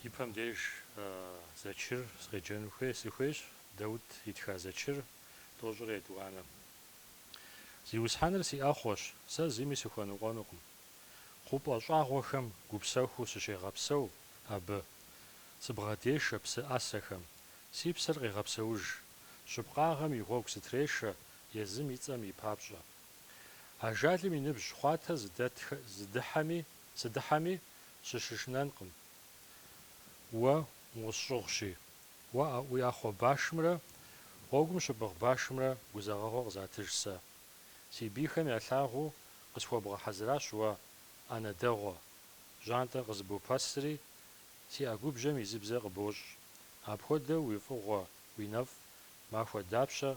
И пэм деж зэчыр сыкъеджэну хуей, сыхуейщ, Даут итха зэчыр, тӏощӏрэ етӏуанэ. Зиусхьэныр си ӏэхъуэщ, сэ зыми сыхуэныкъуэнукъым. Хъупӏэ щӏагъуэхэм гупсэхуу сыщегъэпсэу абы. Сыбгъэдешэ псы ӏэсэхэм, си псэр къегъэпсэуж, щыпкъагъэм и гъуэгу сытрешэ езым и цӏэм и папщӏэ. Ажалым и ныбжь хъуатэ сыдыхьэми, сыщышынэнкъым. Уэ усщӏыгъущи, уэ а уи ӏэхъуэ башымрэ гъуэгум щыпӏыгъ башымрэ гузэгъэгъуэ къызатыж сэ. Си бийхэм ялъагъуу къысхуэбгъэхьэзыращ уэ ӏэнэ дэгъуэ, жьантӏэр къызыбопэсри, си ӏэгубжьэм изыбзэ къыбощӏ. Апхуэдэу уи фӏыгъуэ, уи нэфӏ махуэ дапщэ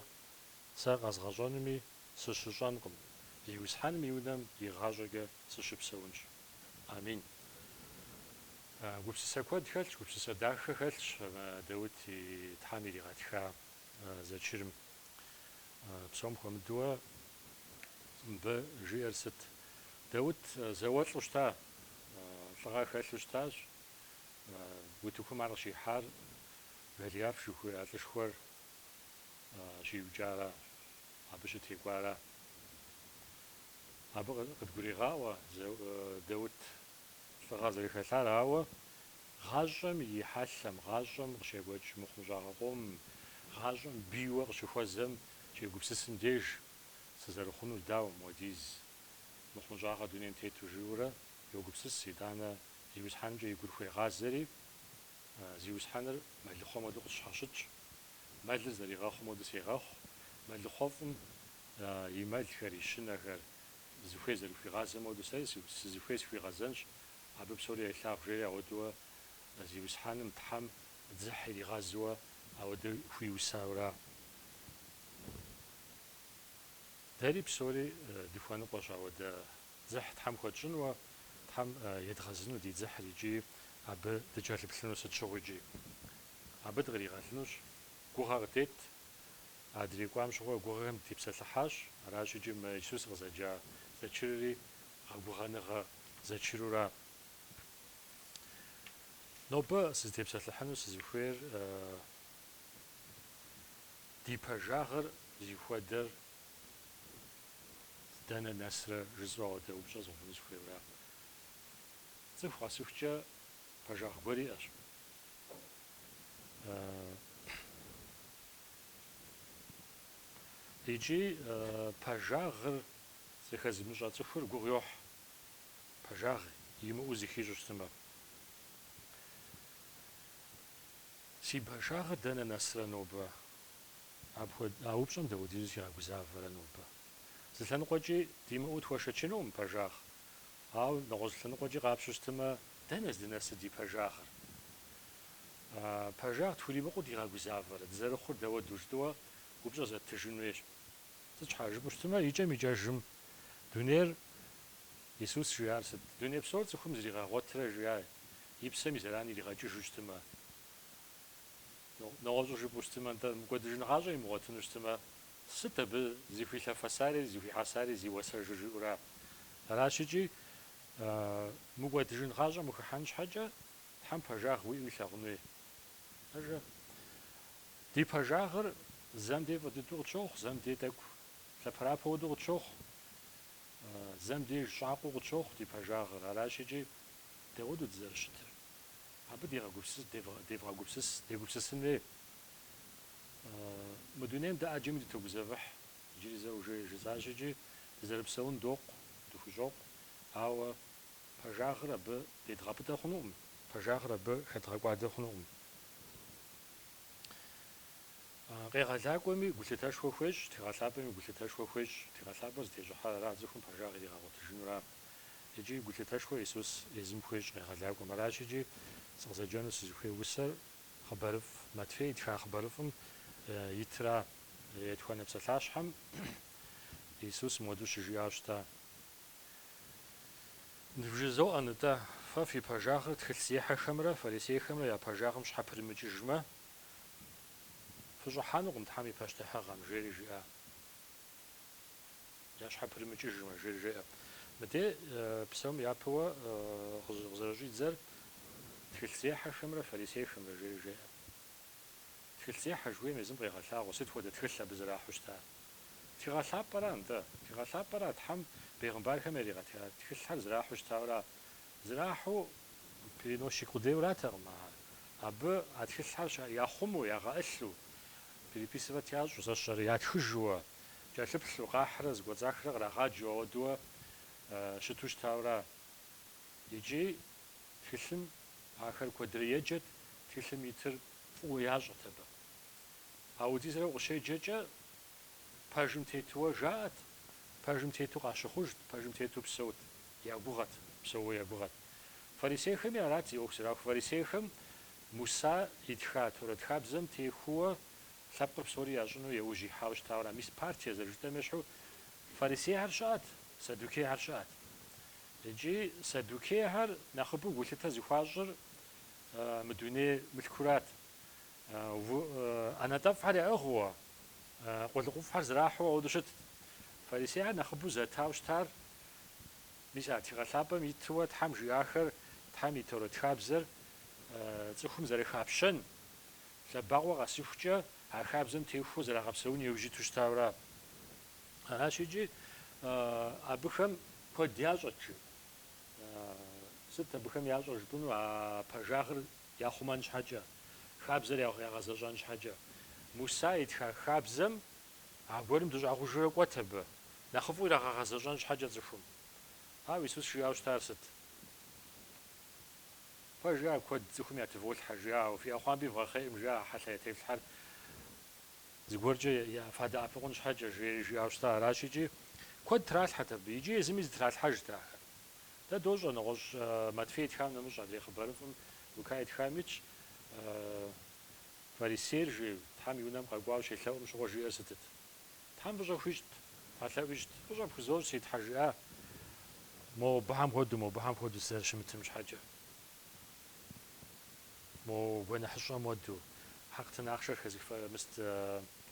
сэ къэзгъэщӏэнуми Сыщыщӏэнкъым. Зиусхьэным и унэм игъащӏэкӏэ сыщыпсэунщ. Амин. Гупсысэ куэд хэлъщ, гупсысэ дахэ хэлъщ Даут и Тхьэм иригъэтха зэчырым. Псом хуэмыдууэ мыбы жиӏэр сыт? Даут зауэлӏу щыта, лӏыгъэ хэлъу щытащ. Утыкум ар къыщихьар Голиаф жыхуиӏэ лӏышхуэр щиукӏара. Абы щытекӏуара. Абы къыдгурегъаӏуэ Даут лӏыгъэ зэрыхэлъар, ауэ гъащӏэм и хьэлъэм, гъащӏэм къыщекӏуэкӏ мыхъумыщӏагъэ къомым, гъащӏэм бийуэ къыщыхуэзэм щегупсысым деж, сызэрыхъунур дауэ, мыуэдиз мыхъумыщӏагъэ дунейм тету жиӏэурэ йогупсыс, итӏанэ Зиусхьэнымкӏэ и гур хуегъазэри, Зиусхьэныр мэлыхъуэм хуэдэу къысщхьэщытщ. Мэлыр зэригъэхъум хуэдэу сегъэхъу, мэлыхъуэфӏым и мэлхэр, и щынэхэр, зыхуей зэрыхуигъазэм хуэдэу сэри сызыхуей схуигъэзэнщ, абы псори елъагъу, жери ауэдууэ Зиусхьэным, Тхьэм, дзыхь иригъэзууэ ауэдэ хуиусаура. Дэри псори дыхуэныкъуэщ ауэдэ дзыхь Тхьэм хуэтщӏынуэ, Тхьэм едгъэзыну ди дзыхьыр икӏи абы дыкӏэлъыплъыну сыт щыгъуикӏи. Абы дыкъригъэлынущ. Гугъэ къыдет. Адрей кӏуам щыгъуэ гугъэхэм дытепсэлъыхьащ. Аращ икӏи мис сыкъызэджа зэчырри гъэгугъэныгъэ зэчырура. Нобэ сызытепсэлъыхьыну сызыхуейр ди пэжагъыр зихуэдэр дэнэ нэсрэ жысӏэу ауэдэ упщӏэ згъэувыну сыхуейура. Цӏыху къэсыхукӏэ пэжагъ гуэр иӏэщ. Икӏи пэжагъыр зыхэзымыщӏэ цӏыхур гугъу йохь, пэжагъ имыӏэу зыхищӏу щытмэ. Си пэжагъыр дэнэ нэсрэ нобэ? А упщӏэм дапхуэдизу сигъэгузавэрэ нобэ? Зы лъэныкъуэкӏи димыӏэу тхуэшэчынукъым пэжагъ. Ауэ нэгъуэщӏ лъэныкъуэкӏи къапщу щытымэ, дэнэ здынэсыр ди пэжагъыр? Пэжагъ тхуримыкъуу дигъэгузавэрэ? Дызэрыхъур дауэду, жытӏэуэ упщӏэ зэттыжын хуейщ. Сыт щхьа жыпӏэу щытымэ, икӏэм-икӏэжым дунейр, Исус жиӏар сыт? Дуней псор цӏыхум зригъэгъуэтырэ жиӏа и псэм и зэран иригъэкӏыжу щытымэ? Нэгъуэщӏу жыпӏэу щытымэ, нтӏэ, мыкӏуэдыжын гъащӏэ имыгъуэтыну щытымэ, Сыт абы зыхуилъэфэсари зыхуихьэсари зи уасэжыр жиӏэура? Аращ икӏи, мыкӏуэдыжын гъащӏэм ухыхьэн щхьэкӏэ, Тхьэм пэжагъ уиӏэу илъагъун хуей. Ажэ. Ди пэжагъыр зэм дей фӏы дыдэу къытщохъу, зэм дей тӏэкӏу лъэпэрапэ уэдэу къытщохъу, зэм деж щӏакъуэу къытщохъу ди пэжагъыр. Аращ икӏи, дауэду дызэрыщытыр? Абы дегъэгупсыс, девгъэгупсыс, дегупсысын хуей. Мы дунейм дэ ӏэджэми дытогузэвыхь, иджыри зэ уже жысӏащ икӏи, дызэрыпсэун докъу, дыхущӏокъу, ауэ пэжагъыр абы дедгъэпӏытӏэ хъунукъым, пэжагъыр абы хэдгъэкӏуадэ хъунукъым. Къегъэлакӏуэми гулъытэшхуэ хуещӏ, Тхыгъэ Лъапӏэми гулъытэшхуэ хуещӏ, Тхыгъэ Лъапӏэр зытещӏыхьар ара цӏыхум пэжагъ иригъэгъуэтыжынура. Икӏи гулъытэшхуэ Иисус езым хуещӏ къегъэлакӏуэм. Аращ икӏи сыкъызэджэну сызыхуей усэр. Хъыбарыфӏ Матфей итха хъыбарыфӏым итра етхуанэ псалъащхьэм Иисус мыуэду щыжиӏа щыта: Ныбжызоӏэ нтӏэ, фэ фи пэжагъыр тхылъзехьэхэмрэ фарисейхэмрэ я пэжагъым щхьэпырымыкӏыжмэ, фыщӏыхьэнукъым Тхьэм и пащтыхьыгъэм, жери жиӏа. Ящхьэпырымыкӏыжмэ, жери жеӏэ. Мыде псом япэуэ къызэрыщӏидзэр тхылъзехьэхэмрэ фарисейхэмрэ, жери жеӏэ. Тхылъзехьэ жыхуейм езым къегъэлъагъуэ сыт хуэдэ тхылъ абы зэрахьу щытар. Тхыгъэ Лъапӏэра нтӏэ. Тхыгъэ Лъапӏэра Тхьэм бегъымбархэм яригъэтха тхылъхэр зэрахьу щытауэра? Зэрахьу переносчик къудейуэратэкъым ахэр. Абы а тхылъхэр щыӏэр яхъумэу, ягъэӏылъу, Переписывать ящӏу, зэщэрэ ятхыжууэ, кӏэлъыплъу, къахьрэ зэкӏуэцӏахрэ кърагъаджэу ауэдууэ щыту щытауэра. Икӏи тхылъым ахэр куэдрэ еджэт, тхылъым итыр фӏыуэ ящӏэт абы. А удизрэ укъыщеджэкӏэ, пэжым тетууэ жаӏэт, пэжым тету къащыхъужт, пэжым тету псэут, ягугъэт, псэууэ ягугъэт. Фарисейхэми арат зи ӏуэху зэрахур. Фарисейхэм Муса итха Торэт хабзэм техуэуэ лъэпкъыр псори ящӏыну еужь ихьауэ щытауэра. Мис партие зэрыжытӏэм ещхьу фарисейхэр щыӏэт, садукейхэр щыӏэт. Икӏи садукейхэр нэхъыбэу гулъытэ зыхуащӏыр мы дуней мылъкурат. ӏэнэтӏэфӏхэр яӏыгъыуэ, къулыкъуфӏхэр зэрахьэу ауэдэу щытт. Фарисейхэр нэхъыбэу зэтауэ щытар Мис а тхыгъэ лъапӏэм итыуэ Тхьэм жиӏахэр, Тхьэм и Торэт хабзэр цӏыхум зэрыхапщэн, лъэбакъуэ къэсыхукӏэ а хабзэм техуэу зэрагъэпсэун еужь иту щытауэра. Аращ икӏи, абыхэм куэд ящӏэт, жи. Сыт абыхэм ящӏэр жыпӏэну, а пэжагъыр яхъумэн щхьэкӏэ, хабзэр ягъэзэщӏэн щхьэкӏэ. Муса итха хабзэм аргуэрым дыщӏагъужурэ кӏуэт абы, Нэхъыфӏу ирагъэгъэзэщӏэн щхьэкӏэ цӏыхум. Ауэ Исус жиӏэу щытар сыт? Фэ жиӏэ куэд цӏыхум ятыволъхьэ, жиӏэ, ауэ фи ӏэхъуамби вгъэхъейкъым, жиӏэ а хьэлъэ ятефлъхьэр зыгуэркӏэ фадэӏэпыкъун щхьэкӏэ, жери жиӏэу щыта. Аращ икӏи куэд тралъхьэт абы. Иджы езыми зытралъхьэжт ахэр. Дэ дощӏэ, нэгъуэщӏ Матфей итхам нэмыщӏ адрей хъыбарыфӏым Лука итхам итщ, фарисейр жи, Тхьэм и Унэм къэкӏуауэ щелъэӏум щыгъуэ жиӏэр сытыт? Тхьэм фӏыщӏэ хуищӏт, тхьэлъэӏу ищӏт, фӏыщӏэ пхузощӏ, си Тхьэ, жиӏа, мобыхэм хуэдэу, мобыхэм хуэдэу сызэрыщымытым щхьэкӏэ, мо гуэныхьыщӏэм хуэдэу, хьэкътын ахъшэр хэзых, мис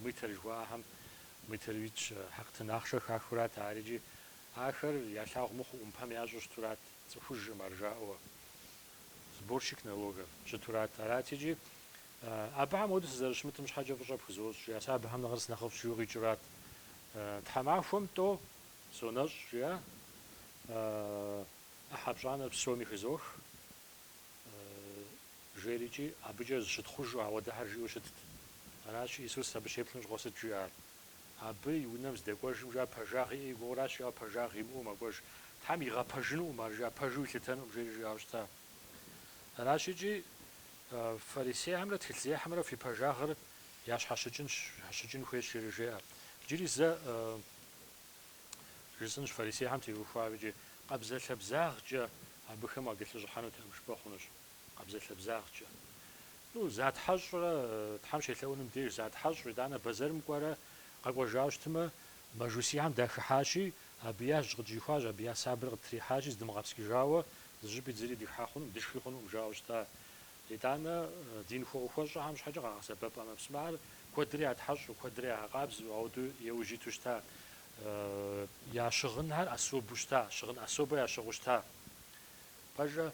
мытарь жыхуаӏэхэм мытарь итщ, хьэкътын ахъшэр хахурат ари икӏи ахэр ялъагъу мыхъуу ӏумпэм ящӏу щытурат, цӏыхужкъым ар жаӏэуэ, сборщик налогов, щытурат, арати икӏи Абыхэм хуэдэу сызэрыщымытым щхьэкӏэ фӏыщӏэ пхузощӏ, жиӏэ. Сэ абыхэм нэхъыр сынэхъыфӏщ жиӏэу къикӏырат. Тхьэмахуэм тӏо сонэщӏ, жиӏа. ӏыхьэ пщӏанэр псоми хызох, жери икӏи, абыкӏэ зыщытхъужу ауэдэхэр жиӏэу щытт. Аращи, Исус абы щеплъым щыгъуэ сыт жиӏар? Абы и унэм здэкӏуэжым, жиӏа, пэжагъ иӏэ и гугъуращ, жиӏэу пэжагъ имыӏэу мэкӏуэж. Тхьэм игъэпэжынукъым ар, жиӏа, пэжу илъытэнукъым, жери жиӏауэ щыта. Аращ икӏи, фарисейхэмрэ тхылъзехьэмрэ фи пэжагъыр ящхьэщыкӏын, щхьэщыкӏын хуейщ жери жеӏэ. Иджыри зэ жысӏынщ фарисейхэм теухуауэ икӏи, къабзэлъэбзагъкӏэ абыхэм уакӏэлъыщӏыхьэнутэкъым жыпӏэ хъунущ. Къабзэлъэбзагъкӏэ. Ну, затхьэщӏрэ, Тхьэм щелъэӏуным деж затхьэщӏ, итӏанэ бэзэрым кӏуэрэ къэкӏуэжауэ щытмэ, Мэжусихэм дахыхьащи, абы я жь къытщӏихуащ, абы я сабэр къыттрихьащи, здымыгъэпскӏыжауэ, зыщӏыпӏи зыри дихьэ хъунукъым, дышхи хъунукъым жаӏэу щыта. Итӏанэ дин хуэӏухуэщӏэхэм щхьэкӏэ къагъэсэбэп ӏэмэпсымэхэр, куэдри ятхьэщӏу, куэдри ягъэкъабзэу, ауэдэу еужь иту щыта. Я щыгъынхэр особэу щыта, щыгъын особэ ящыгъыу щыта. Пэжкъэ,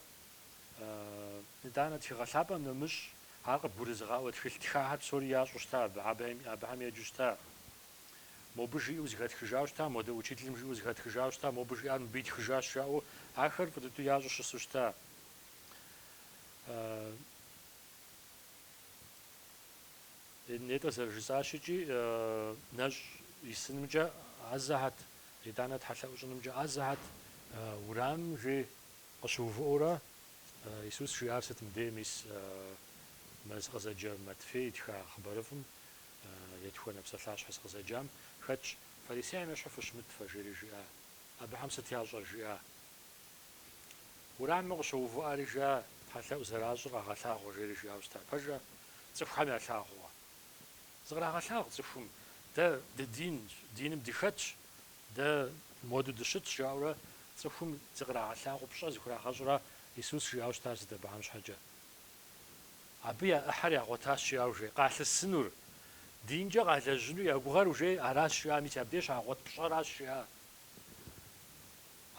итӏанэ тхыгъэ лъапӏэм нэмыщӏ, ар къыбгурызыгъаӏуэ тхылъ тхахэр псори ящӏу щыта абы, абыхэм еджэу щыта. Мобы жиӏэу зыхэтхыжауэ щыта, модэ учителым жиӏэу зыхэтхыжауэ щыта, мобы жиӏар мыбы итхыжащ жаӏэу ахэр фӏы дыдэу ящӏу щысу щыта. Нетӏэ зэрыжысӏащ икӏи, нэщӏ исынымкӏэ ӏэзэхьэт, итӏанэ тхьэлъэӏу щӏынымкӏэ ӏэзэхьэт, урамым жи къыщыувыӏэурэ, Исус жиӏар сыт мыбдеж? Мис мы сыкъызэджэ Матфей итха хъыбарыфӏым Етхуанэ псалъащхьэ сыкъызэджам хэтщ, Фарисейхэм ещхьу фыщымыт фэ, жери жиӏа. Абыхэм сыт ящӏэр? жиӏа. Урамым къыщоувыӏэри жиӏа, Тхьэлъэӏу зэращӏыр къагъэлъагъуэ, жери жиӏауэ щыта. Пэжкъэ? Цӏыхухэм ялъагъукъэ? Зыкърагъэлъагъу цӏыхум. Дэ дыдинщ, диным дыхэтщ, дэ муэду дыщытщ, жаӏэурэ цӏыхум зыкърагъэлъагъу пщӏэ зыхурагъэщӏра, Исус жиӏауэ щытар сыт абыхэм щхьэкӏэ? Абы я ӏыхьэр ягъуэтащ жиӏа ужей, къалъысынур, динкӏэ къалэжьыну я гугъэр ужей аращ жиӏа, мис абдеж щагъуэт пщӏэращ жиӏа.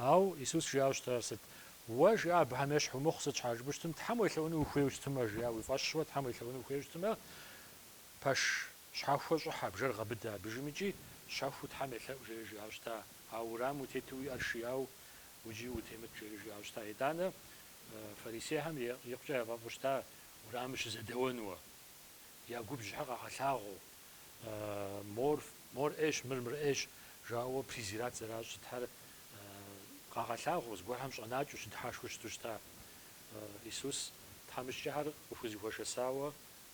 Ауэ Исус жиӏауэ щытар сыт? Уэ, жиӏа, абыхэм ещхь умыхъу, сыт щхьэ жыпӏэу щытым, Тхьэм уелъэӏуну ухуейуэ щытымэ, жиӏа, уи фӏэщуэ Тхьэм уелъэӏуну ухуейуэ щытымэ, пэш щхьэхуэ щӏыхьэ, бжэр гъэбыдэ, абдежым икӏи щэхуу Тхьэм елъэӏу, жери жиӏэу щыта, ауэ уэрамым утету уи ӏэр шияуэ, уджи утемыт, жери жиӏэу щыта. Итӏанэ Фарисейхэм икъукӏэ яфӏэфӏу щыта урамым щызэдэуэнуэ. Я губжьыхэр къагъэлъагъуэу, Мор, мор ӏейщ, мыр мыр ӏейщ, жаӏэуэ презират зэращӏ сытхэр къагъэлъагъуэу, зыгуэрхэм щӏэнакӏэу, щыдыхьэшхыу щыту щыта. Исус тхьэмыщкӏэхэр къыхузыхуэшэсауэ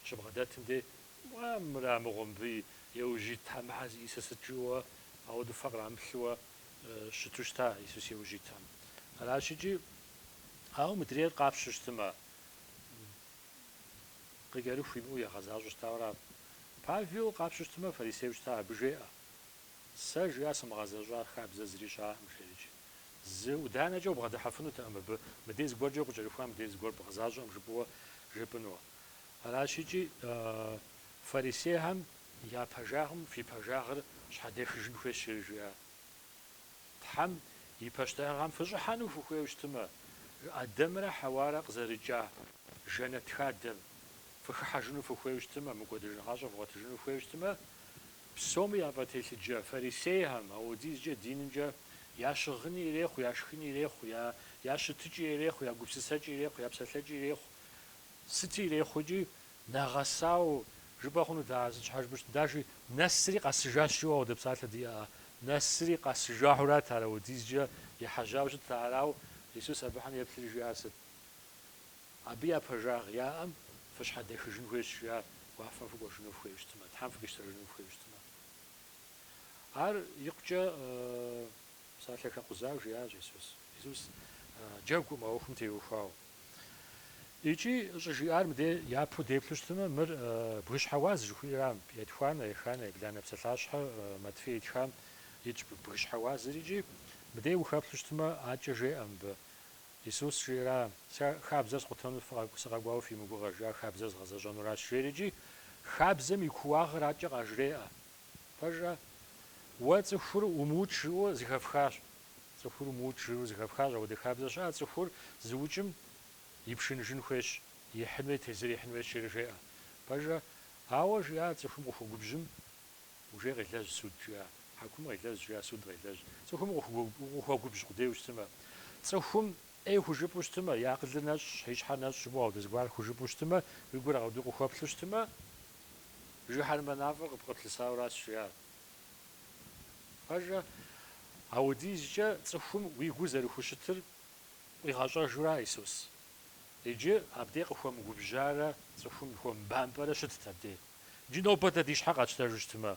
щыбгъэдэтым дей, Уа, мыра мыгъуэ мыбы еужь итхэр, мыхэр зищӏысыр сыт? жаӏэуэ, ауэдэу фэ кърамыплъыуэ щыту щыта Исус еужь итхэм. Аращ икӏи Ауэ мыдрейр къапщу щытымэ, къыкӏэрыху имыӏэу егъэзащӏэу щытауэ ара? Павел къапщу щытымэ, фарисейуэ щыта, абы жеӏэ, Сэ, жиӏа, сымыгъэзэщӏа хабзэ зыри щыӏэкъым, жери иджы. Зы ӏуданэкӏэ убгъэдыхьэфынутэкъым абы, мыдей зыгуэркӏэ укъыкӏэрыхуа, мыдей зыгуэр бгъэзащӏэкъым жыпӏэуэ жепӏэнуэ. Аращ икӏи фарисейхэм я пэжагъым фи пэжагъыр щхьэдехыжын хуейщ, жери жиӏа. Тхьэм и пащтыхьыгъэм фыщӏыхьэну фыхуейуэ щытмэ, Адэмрэ Хьэуарэ къызэрыкӏа жэнэт хадэм фыхыхьэжыну фыхуейуэ щытмэ, мыкӏуэдыжын гъащӏэ вгъуэтыжыну фыхуейуэ щытмэ, псоми яфӏэтелъыджэ фарисейхэм, ауэдизкӏэ динымкӏэ я щыгъыни ирехъу, я шхыни ирехъу, я я щытыкӏи ирехъу, я гупсысэкӏи ирехъу, я псэлъэкӏи ирехъу, сыти ирехъу икӏи, Нэгъэсауэ, жыпӏэ хъунут ар сыт щхьэ жыпӏэу щытым, Даши, Нэсри къэсыжащ жиӏэу ауэдэ псалъэ диӏэ. Нэсри къэсыжауэрат ар апхуэдизкӏэ ехьэжьауэ щытт, арауэ Исус абыхэм еплъри жиӏар сыт? Абы я пэжагъ яӏэм фыщхьэдэхыжын хуейщ жиӏар, уафэм фыкӏуэжыну фыхуейуэ щытмэ, Тхьэм фыкъищтэжыну фыхуейуэ щытмэ. Ар икъукӏэ псалъэ хэкъузауэ жиӏащ Исус. Исус джэгукъым а ӏуэхум теухуауэ. Икӏи щӏыжиӏар мыде япэу деплъу щытымэ, мыр Бгыщхьэ уаз жыхуиӏэрам, Етхуанэ, Еханэ, Ебланэ псалъащхьэ Матфей итхам итщ Бгыщхьэ уазыр икӏи мыде ухэплъу щытымэ, адкӏэ жеӏэ мыбы. Исус жиӏэра, Сэ хабзэр скъутэну сыкъэкӏуауэ фи мыгугъэ, жиӏа хабзэр згъэзэщӏэнуращ, жери икӏи хабзэм и кууагъыр адкӏэ къажреӏэ. Пэжрэ? Уэ цӏыхур умыукӏ жыӏэу зыхэфхащ. Цӏыхур умыукӏ жыӏэу зэхэпхащ, апхуэдэ хабзэ щыӏэ, цӏыхур зыукӏым ипшыныжын хуейщ, ихьын хуей, тезыр ихьын хуейщ жери жеӏэ. Пэжэ, ауэ жиӏа цӏыхум къыхуэгубжьым, ужей къелэжь, суд жиӏа, хьэкум къелэжь жиӏа, суд къелэжь. Цӏыхум укъыхуэгубжь къудейуэ щытымэ, цӏыхум ӏей хужыпӏэу щытымэ, и акъылыр нэщӏщ, и щхьэр нэщӏщ, жыпӏэу ауэдэ зыгуэр хужыпӏэу щытымэ, уи гур къэуду къыхуэплъу щытымэ, жыхьэрмэ мафӏэр къыпкъыплъысауэ аращ жиӏар. Пэжа, ауэдизкӏэ цӏыхум уи гур зэрыхущытыр къуигъэщӏэжура Исус? Иджы абдей къыхуэмыгубжьарэ цӏыхум хуэмыбампӏэрэ щытт абдей. Иджы нобэ дэ ди щхьэ къатщтэжу щытмэ?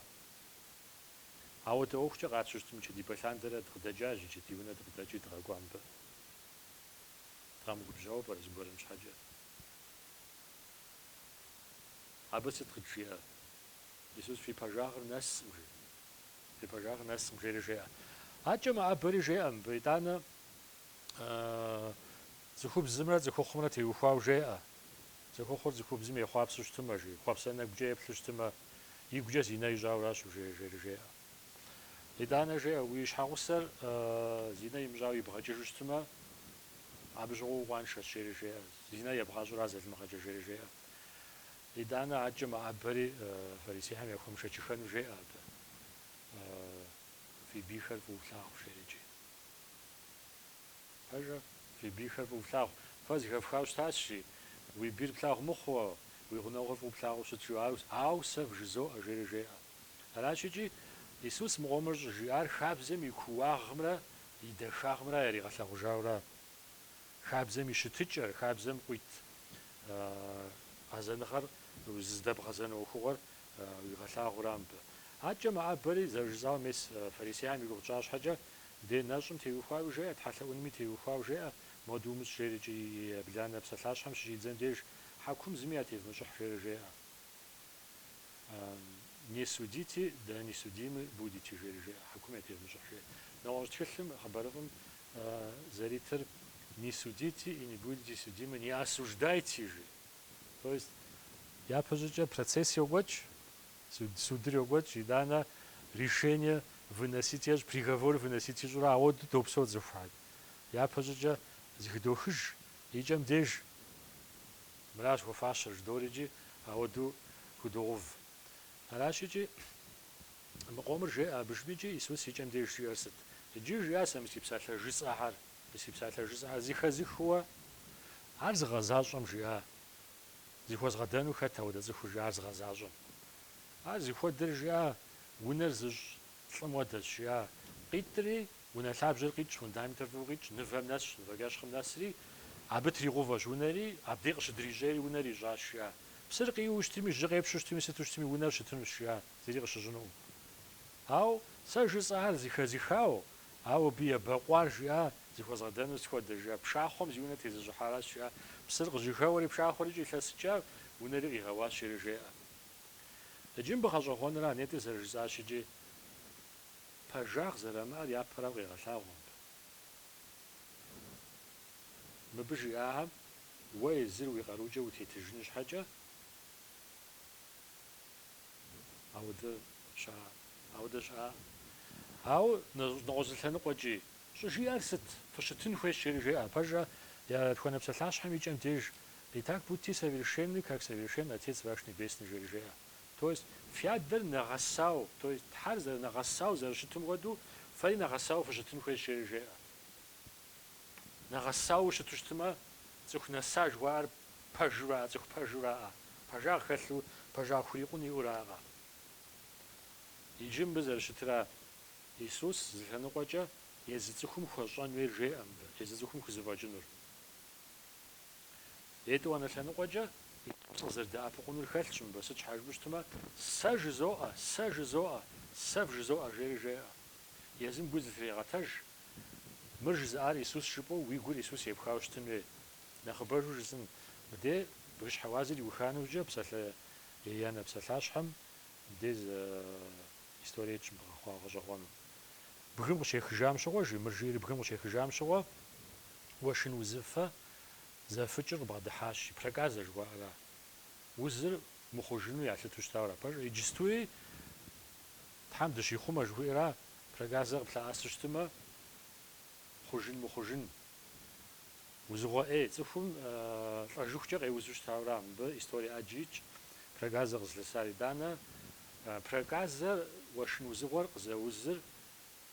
Ауэдэ ӏуэхукӏэ къатщтэу щытым, нышэдибэ лъандэрэ дыкъыдэкӏащ, иджы ди унэ дыкъыдэкӏи дыкъэкӏуа мыбы. Дыкъэмыгубжьауэ пӏэрэ зыгуэрым щхьэкӏэ? Абы сыт къыджиӏэр? Исус фи пэжагъыр нэсым жи. Фи пэжагъыр нэсым жери жеӏэ. Адкӏэ мэӏэбэри жеӏэ мыбы, итӏанэ цӏыхубзымрэ цӏыхухъумрэ теухуауэ жеӏэ, цӏыхухъур цӏыхубзым ехъуапсэу щытымэ жи, хъуэпсэ нэгукӏэ еплъу щытымэ, игукӏэ зинэ ищӏауращ ужеир жери жеӏэ. Итӏанэ жеӏэ, уи щхьэгъусэр зинэ имыщӏауэ ибгъэкӏыжу щытымэ, абы щыгъуэ укъуаншэщ жери жеӏэ, зинэ ебгъащӏэра зэлымыгъэкӏэ жери жеӏэ. Итӏанэ акӏэ мэӏэбэри фарисейхэм яхуэмышэчыхэну жеӏэ абы. Фи бийхэр фӏыуэ флъагъу, жери икӏи. Пэжкъэ, фи бийхэр фӏыуэ флъагъу. Фэ зыхэфхауэ щытащ, жи. Уи бийр плъагъу мыхъууэ, уи гъунэгъур фӏыуэ плъагъуу щыт, жиӏа, ауэ сэ вжызоӏэ, жери жеӏэ. Аращ икӏи, Исус мы къомыр щӏыжиӏар хабзэм и кууагъымрэ и дахагъымрэ яригъэлъэгъужауэ ара? Хабзэм и щытыкӏэр, хабзэм къуит гъэзэныгъэр, зыздэбгъэзэну ӏуэхугъуэр уигъэлъагъуу ара мыбы. Адэкӏэ мэӏэбэри, зэрыжысӏауэ, мес фарисеям и гугъу тщӏа щхьэкӏэ, дей нэщӏым теухуауи жеӏэ, тхьэлъэӏунми теухуауи жеӏэ, Моду умыщӏ, жери икӏи ебланэ псалъащхьэм щыщӏидзэм деж, хьэкум зыми ятевмыщӏыхь, жери жеӏэ, Не судите, да не судимы будете, жери жеӏэ, хьэкум ятевмыщӏыхь, жеӏэ. Нэгъуэщӏ тхылъым, хъыбарыфӏым Зэритыр не судите и не будете судимы, не осуждайте, жи. То есть япэщӏыкӏэ процесс йокӏуэкӏ, судыр йокӏуэкӏ, итӏанэ решение выносить ещӏ, приговор выносить ищӏурэ, ауэду допсэу цӏыхухэр. Япэщӏыкӏэ зыхыдохыж и кӏэм деж. Мыращ хуэфащэр жыдоӏэри икӏи ауэду худогъув. Аращ икӏи Мы къомыр жеӏэ абы жыпӏи, икӏи Исус и кӏэм деж жиӏэр сыт? Иджы жиӏащ, сэ мы си псалъэ жысӏэхэр. Мы си псалъэ жысӏэхэр зыхэзыхыуэ. Ар зыгъэзащӏэм жиӏа? Зыхуэзгъэдэну хэт ауэдэ цӏыхур жиӏар зыгъэзащӏэм? Ар зыхуэдэр жиӏа? Унэр зыщӏ лӏым уэдэщ, жиӏа? Къитӏри, унэ лъабжьэр къитӏщ, фундаментыр фӏыуэ къитӏщ, нывэм нэсщ, нывэкӏэщхъым нэсри, абы тригъувэщ унэри, абдей къыщыдрищӏейри унэр ищӏащ, жиӏа? Псыр къиуэу щытми, жьы къепщу щытми, сыту щытми, унэр щытынущ, жиӏа? Зыри къыщыщӏынукъым. Ау сэ жысӏар зыхэзыхау, ау абы ебэкъуар жиӏа зыхуэзгъэдэнур сыт хуэдэ, жиӏа пшахъуэм зи унэ тезыщӏыхьаращ, жиӏа псыр къыжьэхэуэри пшахъуэр икӏи илъэсыкӏа, унэри къигъэуащ, жери жеӏэ. Иджы мыбы гъэщӏэгъуэныр, а нетӏэ зэрыжысӏащи икӏи пэжагъ зэримыӏэр япэрауэ къегъэлъагъуэ мыбы. Мыбы жиӏахэм уэ езыр уи къарукӏэ утетыжыну щхьэкӏэ, Ауэдэ щыӏэ, ауэдэ щыӏэкъым. Ауэ нэгъуэщӏ лъэныкъуэкӏи, щӏыжиӏэр сыт? Фыщытын хуейщ, жери жеӏэ. Пэжкъэ, етхуанэ псалъащхьэм и кӏэм деж, Итак будьте совершенны, как совершен Отец ваш Небесный, жери жеӏэ. То есть, фи адэр нэгъэсау, то есть, Тхьэр зэрынэгъэсау зэрыщытым хуэдэу, фэри нэгъэсауэ фыщытын хуейщ, жери жеӏэ. Нэгъэсауэ щыту щытмэ, цӏыху нэса жыхуаӏэр пэжу раӏэ, цӏыху пэжу раӏэ, пэжагъ хэлъу, пэжагъ хурикъун иӏэу раӏэ. Иджы мыбы зэрыщытра Исус зы лъэныкъуэкӏэ езы цӏыхум хуэщӏэн хуейр жеӏэ мыбы, езы цӏыхум хузэфӏэкӏынур. Етӏуанэ лъэныкъуэкӏэ Исус къызэрыдэӏэпыкъунур хэлъщ мыбы, сыт щхьа жыпӏэу щытмэ, Сэ жызоӏэ, сэ жызоӏэ, сэ вжызоӏэ жери жеӏэ. Езым гур зытригъэтэж. Мыр жызыӏар Исус жыпӏэу уи гур Исус епхауэ щытын уей. Нэхъыбэжу жысӏэн, мыдей бгыщхьэ уазыр иуха нэужькӏэ псалъэ еянэ псалъащхьэм мыдей зы историе тщӏы бгъэхъуа гъэщӏэгъуэну. Бгым къыщехыжам щыгъуэ, жи, мыр жиӏэри бгым къыщехыжам щыгъуэ, уэшын узыфэ зэфыкӏыр къыбгъэдыхьащ, жи, проказэ жыхуаӏэра. Узыр мыхъужыну ялъыту щытауэра пэжыр. Иджыстуи Тхьэм дыщихъумэ жыхуиӏэра, проказэр къыплъэӏэсу щытымэ, хъужын мыхъужын. Узыгъуэ ӏей, цӏыхум лӏэжыхукӏэ къеузу щытауэра, мыбы историе ӏэджи итщ, проказэр къызлъысар итӏанэ. Проказэр, уэшын узыгъуэр къызэузыр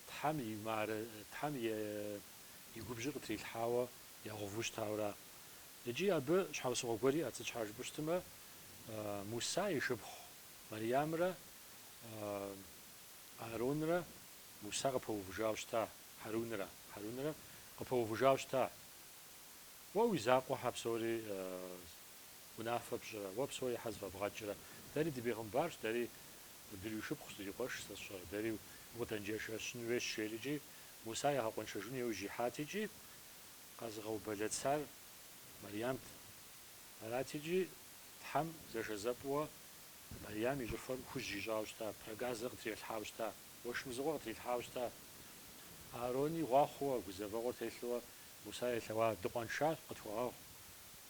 Тхьэм и мары, Тхьэм и губжьыр къытрилъхьауэ егъэву щытауэра. Икӏи абы щхьэусыгъуэ гуэр иӏэт, сыт щхьа жыпӏэу щытымэ, Муса и шыпхъу Мэриямрэ Ааронрэ Муса къыпэувыжауэ щыта, Хьэрунрэ, Хьэрунрэ къыпэувыжауэ щыта, Уэ уи закъуэ хьэ псори унафэ пщӏырэ, уэ псори хьэ зэфӏэбгъэкӏрэ? Дэри дыбегъымбарщ, дэри дыришыпхъущ, дырикъуэшщ, сэ сщӏэрэ, дэри укъыдэнджэшэщын уейщ, жери икӏи Муса ягъэкъуэншэжыну иужь ихьат икӏи къэзыгъэубэлэцар Марьямт. Арати икӏи Тхьэм зэшэзэпӏыуэ Мэриям и щӏыфэр хужь ищӏауэ щыта, проказэ къытрилъхьауэ щыта, уэшын узыгъуэ къытрилъхьауэ щыта. Аарони гъуахъуэуэ, гузэвэгъуэр телъууэ Муса елъэӏуа, дыкъуэншащ, Къытхуэгъэгъу,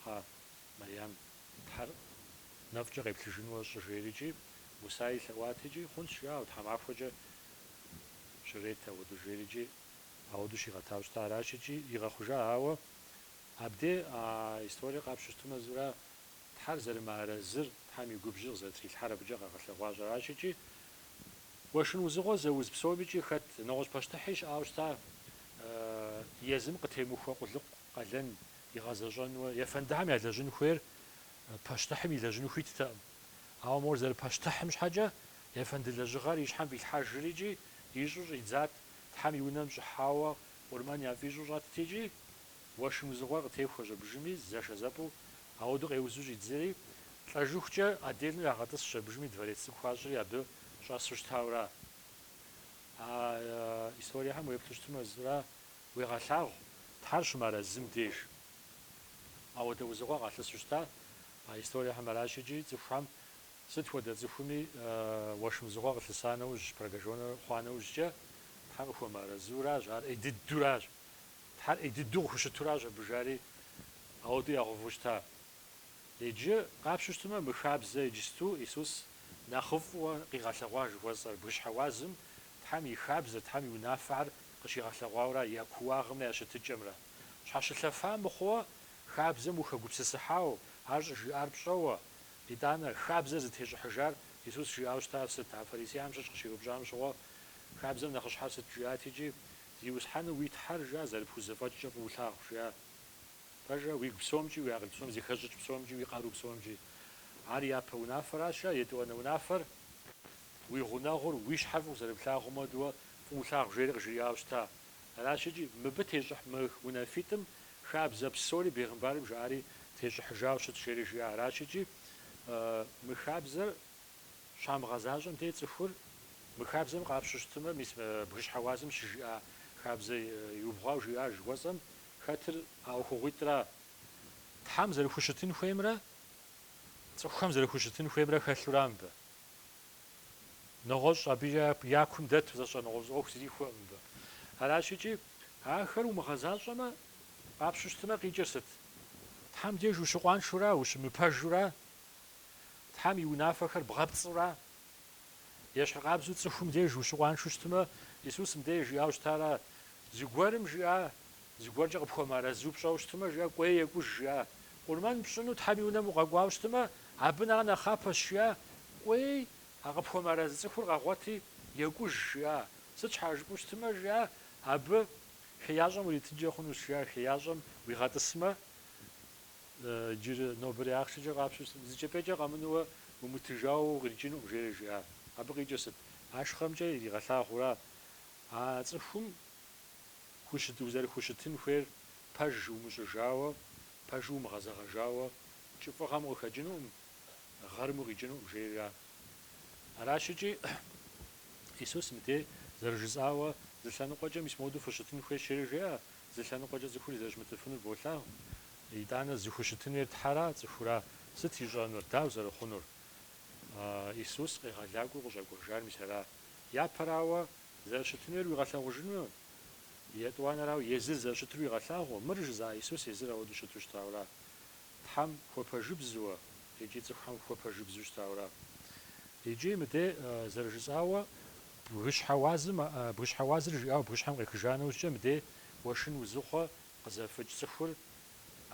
кхъэ, Мэриям, Тхьэр нэфӏкӏэ къеплъыжынуэ щӏы, жери икӏи Муса елъэӏуат икӏи, Хъунщ, ауэ тхьэмахуэкӏэ щырет ауэду, жери икӏи ауэду щигъэтауэ щыта. Аращ икӏи игъэхъужа. Ауэ абдей а историр къапщту щытымэ зыра Тхьэр зэрымыарэзыр, Тхьэм и губжьыр къызэрытрилъхьэр абыкӏэ къэгъэлъэгъуащ. Аращ икӏи, уэшын узыгъуэ зэуз псомикӏи хэт, нэгъуэщӏ пащтыхьи щыӏауэ щыта, езым къытемыхуэ къулыкъу къалэн игъэзэщӏэнуэ, ефэндыхьэм ялэжьын хуейр пащтыхьым илэжьыну хуиттэкъым. Ауэ мор зэрыпащтыхьым щхьэкӏэ, ефэнды лэжьыгъэр и щхьэм фӏилъхьэжри икӏи ищӏу щӏидзат, Тхьэм и унэм щӏыхьауэ къурмэн яфӏищӏу щӏэтт икӏи, Уэшын узыгъуэр къытехуэщ абыжыми, зэшэзэпӏэу, ауэдэу къеузу щӏидзэри, лӏэжыхукӏэ отдельнэу ягъэтӏысщ абыжыми дворец цӏыкӏу хуащӏри абы щӏэсу щытауэра. А историехэм уеплъу щытмэ, зыра уегъэлъагъу, Тхьэр щымыарэзым деж ауэдэ узыгъуэ къалъысу щыта? А историехэм аращ икӏи цӏыхухэм сыт хуэдэ цӏыхуми уэшын узыгъуэр къылъыса нэужь, прокаженнэ хъуа нэужькӏэ, Тхьэр къыхуэмыарэзыуращ, ар ӏей дыдуращ, Тхьэр ӏей дыдэу къыхущытуращ абы, жари ауэдэу ягъэуву щыта. Иджы, къапщу щытмэ, мы хабзэ иджысту Исус нэхъыфӏыуэ къигъэлъэгъуа жыхуэсӏэр, бгыщхьэ уазым Тхьэм и хабзэр, Тхьэм и унафэхэр къыщигъэлъэгъуауэра, я кууагъымрэ я щытыкӏэмрэ. Щхьэщылъэфа мыхъууэ, хабзэм ухэгупсысыхьау, ар щӏыжиӏар пщӏэуэ. Итӏанэ, хабзэр зытещӏыхьыжар Исус жиӏауэ щытар сыт? А фарисеям щыщ къыщиупщӏам щыгъуэ, хабзэм нэхъыщхьэр сыт жиӏат иджы? Зиусхьэну уи Тхьэр жиӏа зэрыпхузэфӏэкӏкӏэ фӏыу лъагъу, жиӏа. Пэжа, уигу псомкӏи, уи акъыл псом зыхэщӏыкӏ псомкӏи, уи къару псомкӏи. Ар япэ унафэраща, етӏуанэ унафэр? Уи гъунэгъур уи щхьэ фӏыуэ зэрыплъагъум хуэдэуэ фӏыу лъагъу жери къыжриӏауэ щыта. Аращ икӏи, мыбы тещӏыхь мы унафитӏым хабзэ псори бегъымбарым жаӏари тещӏыхьыжауэ щыт жери жиӏа. Аращ икӏи, мы хабзэр. Щамыгъэзащӏэм дей цӏыхур. Мы хабзэм къапщу щытымэ, мис бгыщхьэ уазым щыжиӏа хабзэ иубгъуау жиӏа жыхуэсӏэм хэтыр а ӏуэхугъуитӏра? Тхьэм зэрыхущытын хуеймрэ цӏыхухэм зэрыхущытын хуеймрэ хэлъура мыбы? Нэгъуэщӏ абы я кум дэту зэщӏэнэгъуэщӏ ӏуэху зрихуэкъым мыбы. Аращ икӏи, ахэр умыгъэзащӏэмэ, къапщу щытымэ, къикӏыр сыт? Тхьэм деж ущыкъуаншэура, ущымыпэжура, Тхьэм и унафэхэр бгъэпцӏура? Ещхьыркъабзэу цӏыхум деж ущыкъуаншэу щытмэ, Исус мыдей жиӏауэ щытара? Зыгуэрым жиӏа? Зыгуэркӏэ къыпхуэмыарэзу пщӏэу щытмэ, жиӏа? Кӏуей екӏуж жиӏа? Къурмэн пщӏыну Тхьэм и Унэм укъэкӏуауэ щытмэ, абы нэхъ нэхъапэщ жиӏа? Кӏуей, а къыпхуэмыарэзы цӏыхур къэгъуэти, екӏуж жиӏа? Сыт щхьа жыпӏэу щытмэ, жиӏа? Абы, Хеящӏэм уритынкӏэ хъунущ, жиӏа? Хеящӏэм уигъэтӏысмэ? Иджы нобэрей ахъшэкӏэ къапщу зы кӏэпӏейкӏэ къэмынууэ умытыжауэ укъикӏынукъым, жери жиӏа. Абы къикӏыр сыт? Ахъшэмкӏэ иригъэлъагъура а цӏыхум узэрыхущытын хуейр пэж умыщӏыжауэ, пэжу умыгъэзэгъэжауэ, кӏыфӏыгъэм укъыхэкӏынукъым, гъэрым укъикӏынукъым, жейра? Аращ икӏи Исус мыбдеж зэрыжысӏауэ, зы лъэныкъуэкӏэ мис модэу фыщытын хуейщ, жери жеӏэ, Зы лъэныкъуэкӏэ цӏыхури зэрыщымытыфынур болъагъу. Итӏанэ зыхущытын хуейр Тхьэра, цӏыхура? Сыт ищӏэнур, дауэ зэрыхъунур? Иисус къегъэлакӏуэу къыщӏэкӏуэжар мис ара? Япэрауэ, зэрыщытын хуейр уигъэлъагъужыну? Етӏуанэрауэ, езыр зэрыщытыр уигъэлъагъуу? Мыр жызыӏа Иисус езыр ауэдэу щыту щытауэра? Тхьэм хуэпэжыбзуэ икӏи цӏыхухэм хуэпэжыбзу щытауэра? Икӏи мыдей зэрыжысӏауэ, бгыщхьэ уазым, бгыщхьэ уазыр жиӏауэ бгыщхьэм къехыжа нэужькӏэ мыдей уэшын узыфэ къызэфыкӏ цӏыхур,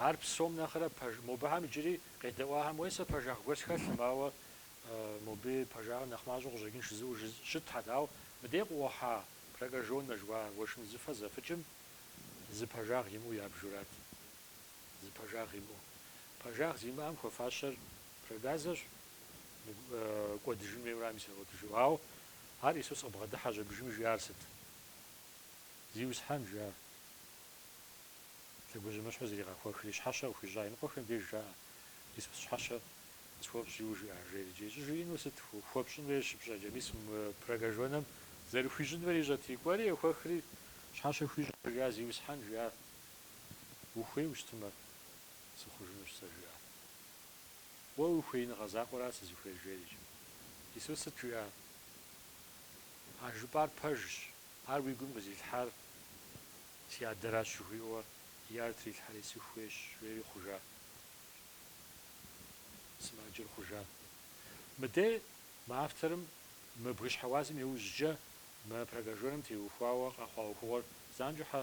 ар псом нэхърэ мобыхэм иджыри къедэӏуахэм уей сэ пэжагъ гуэр схэлъым, ауэ моби пэжагъыр нэхъ мащӏэу къыщӏэкӏын жызыӏэу щытхьэт, ауэ мыдей къыӏухьа прокаженнэ жыхуаӏэ уэшын узыфэ зэфыкӏым зы пэжагъ имыӏэу ябжурат. Зы пэжагъ имыӏэу. Пэжагъ зимыӏэм хуэфащэр проказэщ, кӏуэдыжын хуейм арам исригъуэтыжу. Ауэ ар Иисус къыбгъэдыхьэщ абдежым жиӏар сыт? Зиусхьэн, жиӏа. Лъэгужьымыщхьэу зригъэхуэхри, щхьэщэ къыхуищӏа иныкъуэхэм деж жаӏэ, Иисус щхьэщэ схуэпщӏи, жиӏа, жери. Иджы щӏыжиӏэнур сыт? Хуэпщӏын хуейр щыпщӏэкӏэ, мис мы прокаженнэм зэрыхуищӏын хуейр ищӏэти, кӏуэри, ехуэхри, щхьэщэ хуищӏщ, жиӏа, Зиусхьэн, жиӏа. Ухуейуэ щытымэ сыхъужынущ сэ, жиӏа. Уэ уи хуеиныгъэ закъуэра сызыхуейр? жери икӏи. Иисус сыт жиӏа? А жыпӏар пэжщ. Ар уи гум къызилъхьар си Адэращ жыхуиӏэуэ и ӏэр трилъхьэри сыхуейщ, жери хъужа. Сымаджэр хъужа. Мыдэ мы авторым мы бгыщхьэ уазым иужькӏэ мы прокаженнэм теухуауэ къэхъуа ӏуэхугъуэр занщӏэхьэ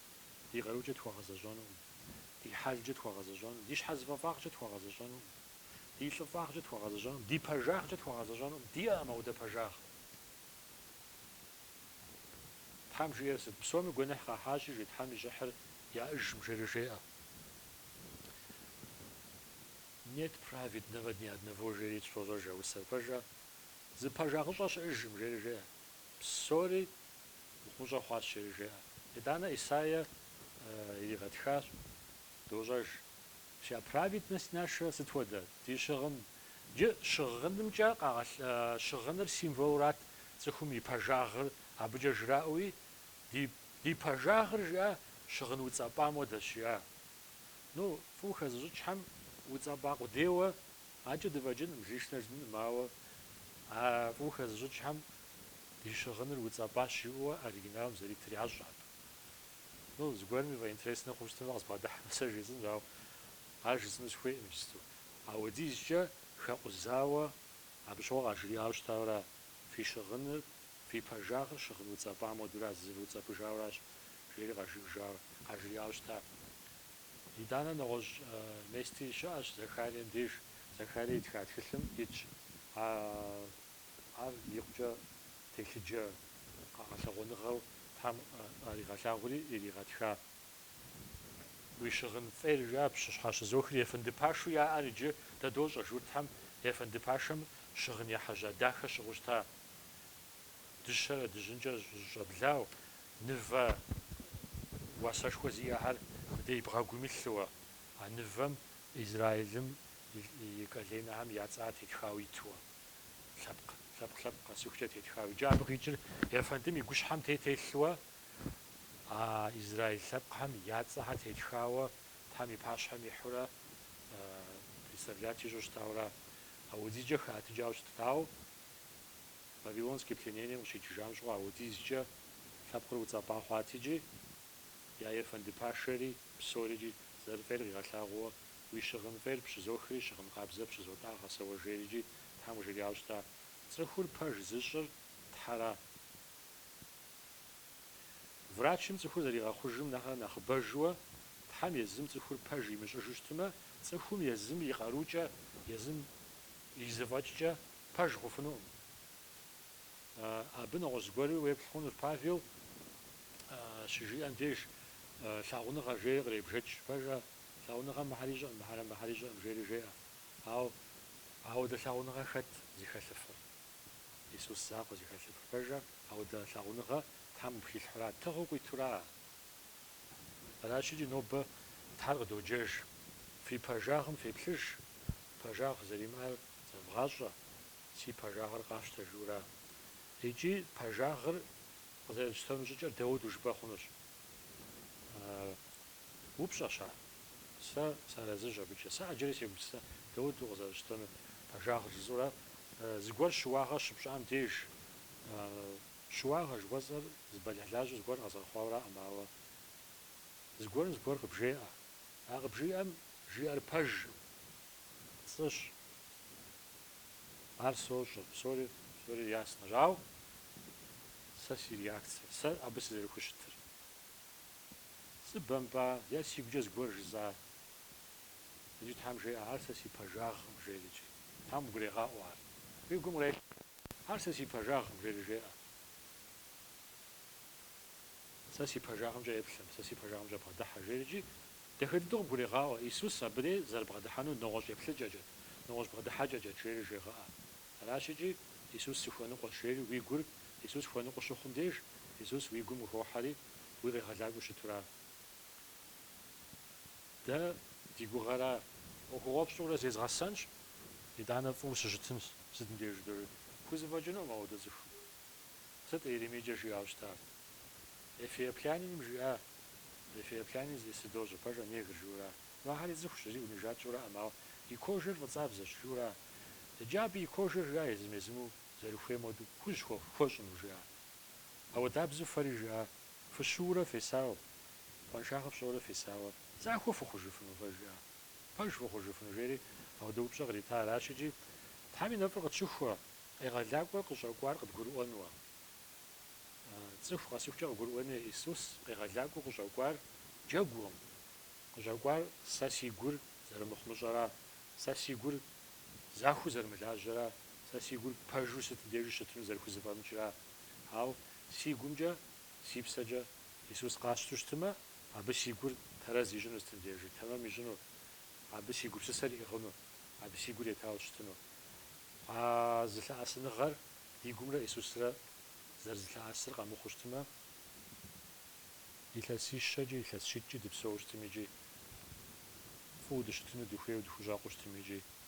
Ди къарукӏэ тхуэгъэзэщӏэнукъым. Ди хьэлкӏэ тхуэгъэзэщӏэнукъым. Ди щхьэзыфӏэфӏагъкӏэ тхуэгъэзэщӏэнукъым. Ди лӏыфӏагъкӏэ тхуэгъэзэщӏэнукъым. Ди пэжагъкӏэ тхуэгъэзэщӏэнукъым. Диӏэкъым апхуэдэ пэжагъ. Тхьэм жиӏэр сыт? Псоми гуэныхь къахьащи, жи Тхьэм и щӏыхьыр яӏыжым, жери жеӏэ. Нет праведного ни одного, жери дощӏэж а усэр. Пэжа, зы пэжагъыщӏэ щыӏыжым, жери жеӏэ. Псори Мыхъумыщӏэ хъуащ жери жеӏэ. Итӏанэ Исаия иригъэтхащ, дощӏэж, Вся праведность наша сыт хуэдэ? Ди щыгъын. Джы щыгъынымкӏэ къагъэлъ, щыгъыныр символрат цӏыхум и пэжагъыр, абыкӏэ жраӏуи, Ди, ди пэжагъыр, жиӏа, щыгъын уцӏэпӏам хуэдэщ, жиӏа. Ну, фӏыуэ хэзыщӏыкӏхэм, уцӏэпӏа къудейуэ, адэкӏэ дыфӏэкӏынкъым, лишнэ жытӏэнкъым, ауэ а фӏыуэ хэзыщӏыкӏхэм Ди щыгъыныр уцӏэпӏащ жиӏэуэ оригиналым зэритыращ абы. Ну, зыгуэрым и фӏэ интереснэ хъун щытмэ къызбгъэдыхьэмэ сэ жесӏэнущ, ауэ ар жысӏэну сыхуейкъым иджысту. Ауэдизкӏэ хэкъузауэ абы щыгъуэ къажриӏауэ щытауэра, фи щыгъыныр, фи пэжагъыр щыгъын уцӏэпӏам хуэдэура, зывыуцӏэпӏыжауращ, жери къажиӏэжауэ, къажриӏауэ щыта. Итӏанэ нэгъуэщӏ местри щыӏэщ Захарием деж, Захарие итха тхылъым итщ а Ар икъукӏэ телъыджэ къэгъэлъэгъуэныгъэу Тхьэм къаригъэлъагъури иригъэтха. Уи щыгъын фӏейр, жаӏэ пщыщхьэщызохри ефэнды пашэу яӏэр иджы дэ дощӏэ, журтхэм ефэнды пашэм щыгъын ехьэжьа дахэ щыгъыу щыта. Дыщэрэ дыжьынкӏэ щӏэблауэ, нывэ уасэшхуэ зиӏэхэр мыдэ и бгъэгум илъууэ, а нывэм Израилым и коленэхэм я цӏэр тетхауэ итуэ. Лъэпкъ, лъэпкъ, лъэпкъ къэцухкӏэ тетха уиджабгъ иджыр ефэндым и гущхьэм те телъуэ, а израил лъэпкъхэм я цӏэхэр тетхауэ Тхьэм и пащхьэм ихьурэ представлять ищӏу щытауэра. Ауэдизкӏэ хэӏэтыкӏауэ щытауэ, Вавилонский пленением къыщикӏыжам щыгъуэ ауэдизкӏэ лъэпкъыр уцӏэпӏа хъуат икӏи, я ефэнды пашэри псори икӏи зэрыфӏейр къигъэлъагъууэ Уи щыгъын фӏейр пщызохри, щыгъын къабзэ пщызотӏагъэ, сэ уэ жери икӏи Тхьэм къыжриӏауэ щыта. Цӏыхур пэж зыщӏыр Тхьэра. Врачым цӏыхур зэригъэхъужым нэхърэ нэхъыбэжуэ, Тхьэм езым цӏыхур пэж имыщӏыжу щытмэ, цӏыхум езым и къарукӏэ, езым и зэфӏэкӏкӏэ пэж хъуфынукъым. Абы нэгъуэщӏ зыгуэру уеплъ хъунущ, Павел щыжиӏэм деж лъагъуныгъэ жери къребжэкӏ. Пэжа? Лъагъуныгъэм мыхэр ищӏэӏым, мыхэр мыхэр ищӏэӏым, жери жеӏэ. Ауэ. Ауэдэ лъагъуныгъэ хэт зыхэлъыфыр? Исус закъуэ зыхэлъыфыр. Пэжа, ауэдэ лъагъуныгъэ Тхьэм къыпхилъхьэура, тыгъэу къуитура. Аращ икӏи нобэ Тхьэр къыдоджэж. Фи пэжагъым феплъыж, пэжагъ зэримыӏэр зэвгъащӏэ, Си пэжагъыр къафщтэ жиӏэура. Икӏи пэжагъыр къызэрытщтэну щӏыкӏэр дауэдэу жыпӏэ хъунущ. Упщӏэщ ар. Сэ сарэзыщ абыкӏэ. Сэ ӏэджэри сегупсысэ дауэдэу къызэрысщтэнур пэжагъыр жысӏэурэ. Зыгуэр щыуагъэ щыпщӏам деж, щыуагъэ жыхуэсӏэр зы бэлыхьлажьэу зыгуэр къэзгъэхъуауэраӏым, ауэ зыгуэрым зыгуэр къыбжеӏэ. А къыбжиӏэм жиӏэр пэжкъым, пцӏыщ. Ар сощӏэ, псори, псори яснэщ. Ауэ сэ си реакцие, сэ абы сызэрыхущытыр. Сыбэмпӏа е си гукӏэ зыгуэр жызӏа? Иджы Тхьэм жеӏэ, ар сэ си пэжагъкъым, жери иджы. Тхьэм угурегъаӏуэ ар. Уи гум кърелъхьэ, ар сэ си пэжагъкъым, жери жеӏэ. Сэ си пэжагъымкӏэ еплъым, сэ си пэжагъымкӏэ бгъэдыхьэ, жери иджы. Дахэ дыдэу къыбгурегъаӏуэ, Исус абыри зэрыбгъэдыхьэнур нэгъуэщӏ еплъыкӏэкӏэт, нэгъуэщӏ бгъэдыхьэкӏэкӏэт, жери жегъэӏэ. Аращ икӏи, Исус сыхуэныкъуэщ, жери уи гур Исус хуэныкъуэу щыхъум деж, Исус уи гум къыхохьэри, уи къегъэлакӏуэу щытура? Дэ ди гугъэра? ӏуэхугъуэфӏ сщӏурэ зезгъэсэнщ, итӏанэ фӏыуэ сыщытынщ, сытым деж жыдоӏэри? Пхузэфӏэкӏынукъым ауэдэ цӏыху. Сыт Иеремийкӏэ жиӏауэ щытар? Эфиопляниным жиӏа? Эфиоплянин зищӏысыр дощӏэ, пэжа, негр, жиӏэура? Ну ахьэри цӏыхущ, зыри унижать сщӏуракъым, ауэ и кожэр фӏыцӏабзэщ, жиӏэура? Иджы абы и кожэр жиӏа езым-езыму зэрыхуейм хуэдэу, хужь хуэхъу, хуэщӏыну, жиӏа? Ауэдабзэу фэри жиӏа? Фыщыуэурэ фесауэ, къуаншагъэ фщӏэурэ фесауэ. Захуэ фыхъужыфыну, фэ жиӏа? Пэж фыхъужыфыну, жери ауэдэ упщӏэ кърита аращ икӏи, Тхьэм и нэфӏыр къытщыхуэ, къегъэлакӏуэр къыщӏэкӏуар къыдгурыӏуэнуэ. Цӏыху къэсыхукӏэ къыгурыӏуэну, Исус къегъэлакӏуэу къыщӏэкӏуар джэгукъым, къыщӏэкӏуар сэ си гур зэрымыхъумыщӏэра, сэ си гур захуэу зэрымылажьэра, Сэ си гур пэжу сытым дежи щытыну зэрыхузэфӏэмыкӏра? Ауэ си гумкӏэ, си псэкӏэ Исус къасщту щытымэ, абы си гур тэрэз ищӏыну сытым дежи, тэмэм ищӏыну, абы си гупсысэр иӏыгъыну, абы си гур етауэ щытыну. А зылъэӏэсыныгъэр ди гумрэ Исусрэ зэрызылъэӏэсыр къэмыхъуу щытымэ, илъэсищэкӏи, илъэсщитӏкӏи дыпсэуу щытым икӏи фӏыуэ дыщытыну дыхуейуэ, дыхущӏэкъуу щытым икӏи.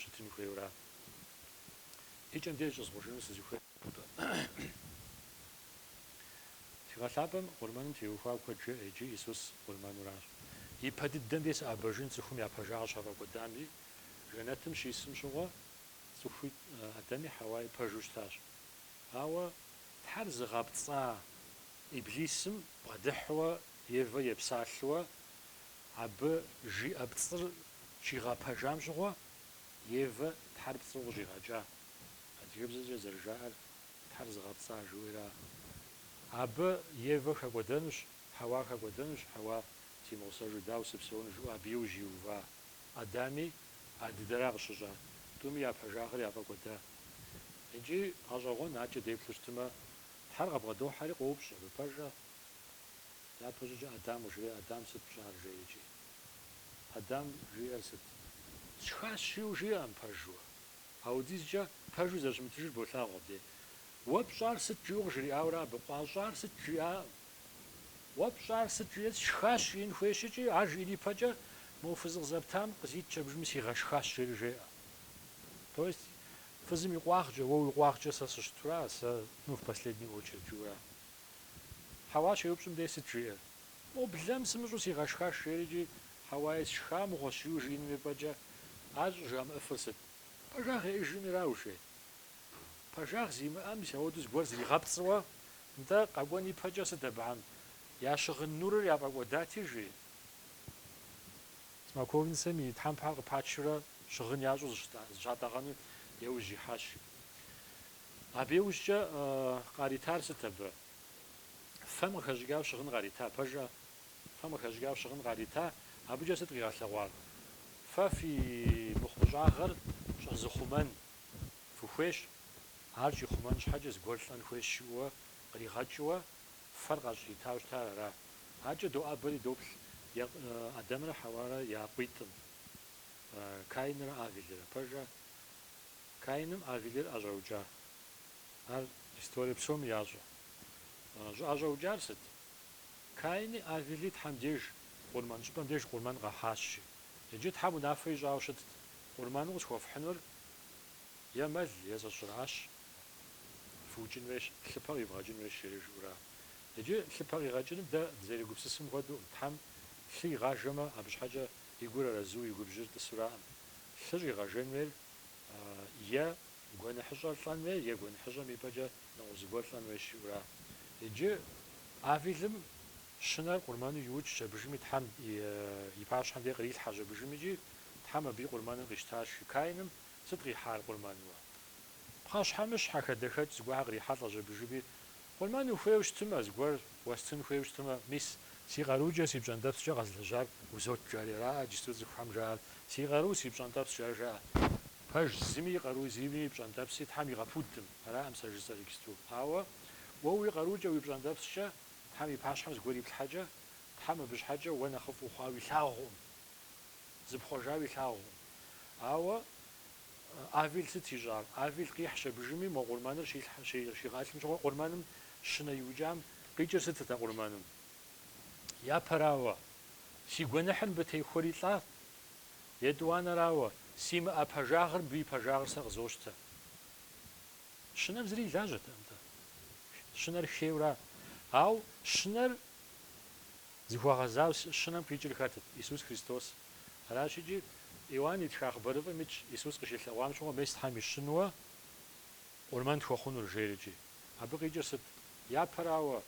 щытын хуейуэра? И кӏэм деж щӏызгъужыну сызыхуейр мыра. Тхыгъэ Лъапӏэм къурмэным теухуауэ куэд жеӏэ иджы, Исус къурмэнуращ. Ипэ дыдэм де сыӏэбэжын цӏыхум я пэжагъыр щафӏэкӏуэдами, жэнэтым щисым щыгъуэ цӏыхуи Адэми Хьэуаи пэжу щытащ. Ауэ Тхьэр зыгъэпцӏа Иблисым бгъэдыхьуэ Евэ епсалъэуэ Абы жиӏэ пцӏыр щигъэпэжам щыгъуэ Евэ Тхьэр пцӏыу къыщӏигъэкӏа. Адыгэбзэкӏэ зэрыжаӏэр Тхьэр зыгъэпцӏа жыхуиӏэра. Абы Евэ хэкӏуэдэнущ, Хьэуа хэкӏуэдэнущ, Хьэуа симыгъусэжу дауэ сыпсэуну жиӏэу абы иужь иува Адэми а дыдэра къыщыщӏа. Тӏуми я пэжагъыр яфӏэкӏуэда. Икӏи гъэщӏэгъуэн, адэкӏэ деплъу щытымэ, Тхьэр къабгъэдохьэри къоупщӏ, Абы пэжа? Япэ щӏыкӏэ Адам къыжреӏэ? Адам сыт пщӏар жеӏэ икӏи? Адам жиӏэр сыт? Сшхащ жиӏэу жиӏэм пэжуэ. Аудизкӏэ пэжу зэрыщымытыжыр болъагъу абдей. Уэ пщӏар сыт жиӏэу къыжриӏауэрэ абы къуищӏар сыт жиӏакъым. Уэ пщӏар сыт жиӏэри сшхащ жиӏэн хуей щхьэкӏи, ар жиӏэн ипэкӏэ мы фыз къызэптам къызитщ абыжыми сигъэшхащ жери жеӏэ. То есть фызым и къуагъкӏэ, уэ уи къуагъкӏэ сэ сыщытура, сэ, ну в последнюю очередь жиӏэура? Хьэуа щеупщӏым дей сыт жиӏэр? Мо блэм сымыщӏэу сигъэшхащ, жери икӏи Хьэуаи сшхамыгъуэщ жиӏэу жиӏэным и пӏэкӏэ ар щӏыжамыӏэфыр сыт? Пэжагъ еӏыжыным ираушей. Пэжагъ зимыӏэм мис ауэду зыгуэр зригъэпцӏыуэ, нтӏэ, къэкӏуэн ипэкӏэ сыт абыхэм? Я щыгъын нурыр яфӏэкӏуэдати, жи? Смоковницэм и тхьэмпэхэр къыпачрэ щыгъын ящӏу зыщатӏэгъэну еужь ихьащ. Абы иужькӏэ къаритар сыт абы? Фэм къыхэщӏыкӏауэ щыгъын къарита, пэжӏэ? Фэм къыхэщӏыкӏауэ щыгъын къарита, абыкӏэ сыт къигъэлъэгъуар? Фэ фи мыхъумыщӏагъэр щӏэзыхъумэн фыхуейщ, ар щӏихъумэн щхьэкӏэ зыгуэр лӏэн хуейщ жыӏэуэ къригъэкӏыуэ фэр къащӏритау щытар ара? Адэкӏэ доӏэбэри доплъ Адамрэ Хьэуарэ я къуитӏым, Каинрэ Авелрэ, пэжӏэ? Каиным Авелыр ӏэщӏэукӏа? Ар историе псоми ящӏэ. Щӏэӏэщӏэукӏар сыт? Каини Авели Тхьэм деж къурмэн щӏыпӏэм деж къурмэн къахьащи. Иджы Тхьэм унафэ ищӏауэ щытт, къурмэну къысхуэфхьынур е мэл, е зэщӏыращ. Фыукӏын хуейщ, лъыпэ къивгъэкӏын хуейщ, жери жыӏэура. Иджы лъыпэ къигъэкӏыным дэ дызэрегупсысым хуэдэу, Тхьэм лъы игъажэмэ, абы щхьэкӏэ и гур арэзу, и губжьыр тӏысураӏым. Лъы щӏигъэжэн хуейр е гуэныхьыщӏэр лӏэн хуей, е гуэныхьыщӏэм и пӏэкӏэ нэгъуэщӏ зыгуэр лӏэн хуейщ жиӏэура. Иджы Авелым щынэр къурмэну иукӏщ абыжыми Тхьэм и пащхьэм дей кърилъхьэщ абыжым икӏи Тхьэм абы и къурмэныр къищтащ, жи. Каиным сыт къихьар къурмэнуэ? Пхъэщхьэмыщхьэ, хадэхэкӏ зыгуэрхьэр кърихьэлӏэщ абыжыми, Къурмэн ухуейуэ щытымэ, зыгуэр уэстын хуейуэ щытымэ, мис. Си къарукӏэ, си пщӏэнтӏэпскӏэ къэзылэжьар узот жери араӏэ иджысту цӏыхухэм жаӏэр, си къару, си пщӏэнтӏэпс, ар жаӏэ. Пэж зыми и къару, зыми и пщӏэнтӏэпси Тхьэм игъэпудым, араӏым сэ жысӏэр иджысту. Ауэ уэ уи къарукӏэ, уи пщӏэнтӏэпскӏэ Тхьэм и пащхьэм зыгуэр иплъхьэкӏэ, Тхьэм абы щхьэкӏэ уэ нэхъыфӏ ухъуауэ илъагъуӏым, зыпхъуэжауэ илъагъуӏым. Ауэ. Авель сыт ищӏар? Авель къихьщ абдежми, мо къурмэныр щигъэлъым щыгъуэ къурмэным щынэ иукӏам къикӏыр сытыт а къурмэным? Япэрауэ, си гуэныхьыр мыбы техуэри лӏа? Етӏуанэрауэ, симыӏэ пэжагъыр мыбы и пэжагъыр сэ къызощтэ? Щынэм зыри и лажьэтэкъым-тӏэ. Щынэр хейуэ ара? Ауэ щынэр Зыхуэгъэзауэ щынэм къикӏыр хэтыт? Исус Христос. Аращ икӏи, Иоанн итха хъыбарыфӏым итщ Исус къыщилъэгъуам щыгъуэ мес Тхьэм и щынэу къурмэн тхуэхъунур жери икӏи. Абы къикӏыр сыт? Япэрауэ,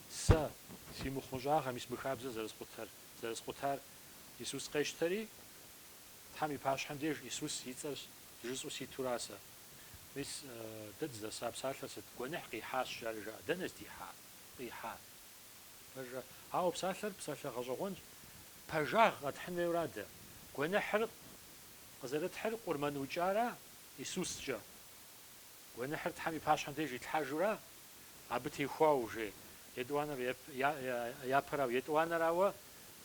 сэ, си мыхъумыщӏагъэ мис мы хабзэр зэрыскъутэр, зэрыскъутар Исус къещтэри, Тхьэм и пащхьэм деж Исус и цӏэр жысӏэу ситура сэ? Мис дэ дызэса псалъэр сыт? Гуэныхь къихьащ, жари жаӏэ. Дэнэ здихьар? Къихьа. Пэжа, ауэ псалъэр псалъэ гъэщӏэгъуэнщ. Пэжагъ къэтхьын хуейура дэ. Гуэныхьыр къызэрытхьыр къурмэн укӏара Исускӏэ? Гуэныхьыр Тхьэм и пащхьэм деж итлъхьэжура? Абы техуауэ, жей етӏуанэр япэрауэ, етӏуанэрауэ,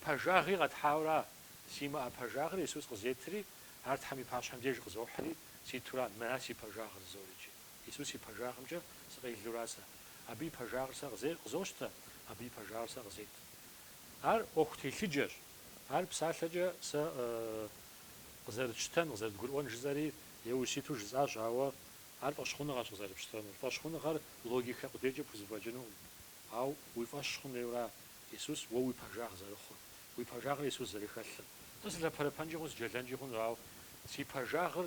пэжагъи къэтхьауэра? Симыӏэ пэжагъыр Исус къызетри, ар Тхьэм и пащхьэм деж къызохьри, ситура мыра си пэжагъыр жызори икӏи? Исус и пэжагъымкӏэ сыкъелура сэ? Абы и пэжагъыр сэ къызе, къызощтэ, абы и пэжагъыр сэ къызет. Ар ӏуэху телъыджэщ. Ар псалъэкӏэ сэ къызэрытщтэн, къызэрытгурыӏуэн жысӏэри еуэ ситу жысӏащ, ауэ ар фӏэщхъуныгъэщ къызэрыпщтэнур. Фӏэщхъуныгъэр логикэ къудейкӏэ пхузэфӏэкӏынукъым. Ауэ уи фӏэщ хъун хуейуэра Исус уэ уи пэжагъ зэрыхъур, уи пэжагъыр Исус зэрыхэлъыр? Сэ сылъэпэрэпэнкӏи хъун, сыджэлэнкӏи хъуну, ауэ си пэжагъыр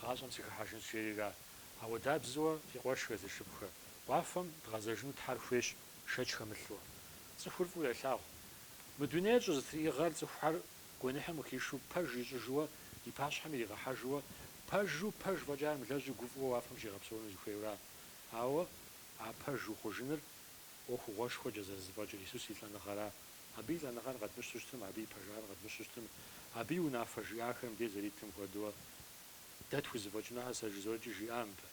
Гъащӏэм сыхыхьэжынщ жери ара? Ауэдабзэуэ си къуэшхэ, си шыпхъухэ, уафэм дгъэзэжыну Тхьэр хуейщ шэч хэмылъу. Цӏыхур фӏыуэ елъагъу. Мы дунейр щӏызэтриӏыгъэр цӏыхухэр гуэныхьым къыхишэу пэж ищӏыжыуэ и пащхьэм иригъэхьэжыуэ, пэжу пэж фӏэкӏа мылэжьу гуфӏэу уафэм щигъэпсэуну зыхуейуэра? Ауэ а пэж ухъужыныр ӏуэхугъуэшхуэкӏэ зэрызэфӏэкӏыр Исус и лӏэныгъэра? Абы и лӏэныгъэр къэдмыщтэу щытмэ, абы и пэжагъыр къэдмыщтэу щытмэ, абы и унафэ жиӏахэм деж зэритым хуэдэу дэ тхузэфӏэкӏынуӏэ сэ жызоркӏи жиӏа мыбы?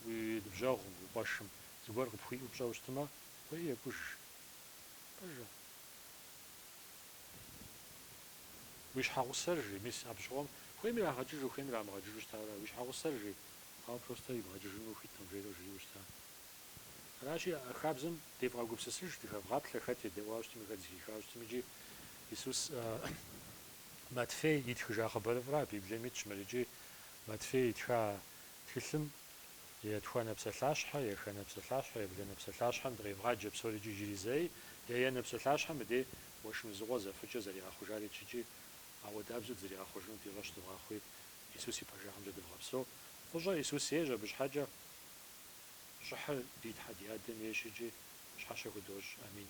Уи ныбжьэгъум, уи къуэшым зыгуэр къыпхуиӏэу пщӏэу щытмэ, кӏуэи екӏуж. Пэжа? Уи щхьэгъусэр жи, мис абы щыгъуэм хуейми ирагъэкӏыжу, хуейми ирамыгъэкӏыжу щытауэ ара? Уи щхьэгъусэр жи, ауэ просто ибгъэкӏыжыну ухуиткъым, жери жриӏэу щыта? Аращи, а хабзэм девгъэгупсысыж, дыхэвгъаплъэ хэт едэӏуа щытми, хэт зыхиха щытми. Икӏи Исус Матфей итхыжа хъыбарыфӏра, Библием итщ мыр. Икӏи Матфей итха тхылъым етхуанэ псалъащхьэ, еханэ псалъащхьэ, ебланэ псалъащхьэм дыкъевгъаджэ псори икӏи иджыри зэ. Еянэ псалъащхьэм дей уэшын узыгъуэ зэфыкӏыр зэригъэхъужар итщ икӏи ауэдабзэу дызэригъэхъужынур ди фӏэщ дывгъэхъуи, Исус и пэжыгъэмкӏэ дывгъэпсэу. Фӏыщӏэ Исус ейщ абы щхьэкӏэ. Щӏыхьыр ди Тхьэ ди Адэм ейщ икӏи щхьэщэ худощӏ. Амин.